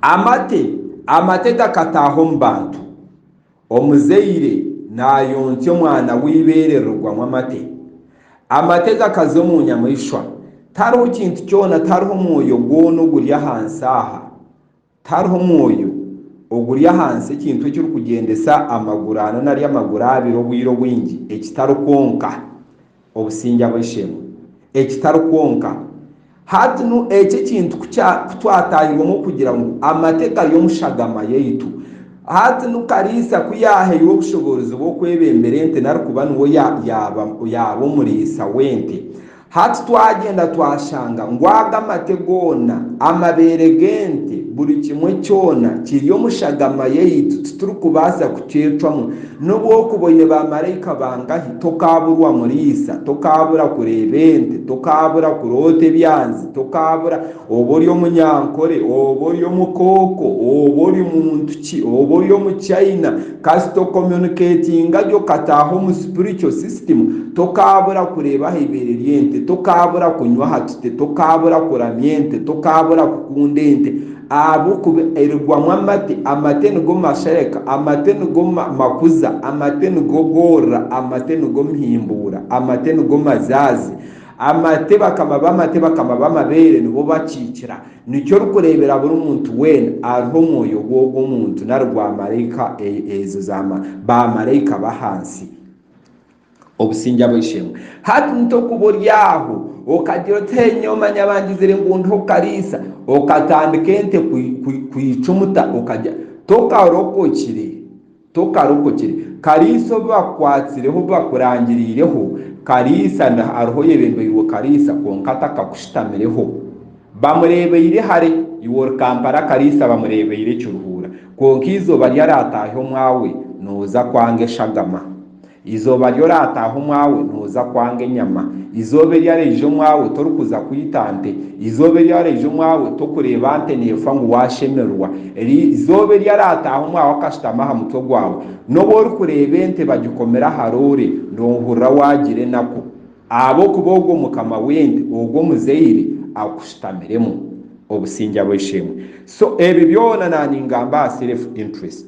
Amate amate gakataaha omu bantu. Omuzaire naayoontsya omwana w'eibeere rirugwamu amate. Amate gakaza omu nyamaishwa. Tariho kintu kyona, tariho mwoyo gwona oguri ahansi aha, tariho mwoyo oguri ahansi ekintu ekirikugyendesa amaguru ana nari amaguru abiri obwire obwingi ekitari kwonka. Obusingye ab'oishe-emwe. Ekitari kwonka, hati nu eki ekintu ku kya ku twatairwemu okugira ngu amate gari omu shagama yaitu. Hati nu kariisa ku yaahairwe obushoboorozi bw'okwebembera ente nari kuba niwe ya yaaba yaaba omuriisa w'ente, hati twagyenda twashanga ngu ago amate goona, amabeere g'ente, buri kimwe kyona kiri omu shagama yaitu, titurikubaasa kukyecwamu. N'obu okuba oine baamaraika bangahi, tokaaburwa muriisa, tokaabura kureeba ente, tokaabura kuroota ebyanzi, tokaabura, oba ori omunyankore, oba ori omukooko, oba ori muntu ki, oba ori omu China, kasita okomuniketinga gye okataaha omu spiritual system, tokaabura kureeba aha ibeere ry'ente, tokaabura kunywa aha tute, tokaabura kuramya ente, tokaabura kukunda ente. Ahabw'okuba erigwamu amate, amate nigo mashereka, amate nigo makuza, amate nigo goorora, amate nigo mihimbuura, amate nigo mazaazi, amate bakama b'amate bakama b'amabeere nibo bakiikira. Nikyo orikureebera buri muntu weena ariho omwoyo gw'ogwo muntu nari gwa maraika ezo za baamaraika b'ahansi. obusingye abo ishemwe. Hati ni tokuba ori aho okagira oti hee nyowe manya bangizire ngu ndi hokukariisa okatandika ente kwicumuta okagya tokarokokire tokarokokire kariisa obu bakukwatsireho obu bakurangiriireho kariisa ndi hariho oyebembeirwe kariisa kwonka takakushutamireho bamurebeire hare iwe ori Kampala kariisa bamurebeire ekiruhuura kwonka eizooba ryarataahya omwawe noza kwanga eshagama. Eizooba ri oraataaha omwawe, nooza kwanga enyama. Eizooba eri araija omwawe, torikuza kwita nte. Eizooba eri araija omwawe, tokureeba nte neefa ngu waashemererwa. Eizooba eri araataaha omwawe akashutama aha mutwe gwawe, n'obu orikureeba ente bagikomire aha roore, noohurira waagira enaku. Ahabw'okuba ogwo mukama w'ente, ogwo omuzaire, akushutamiremu. Obusingye abw'esheemwe. So ebi byona naaningamba aha self interest.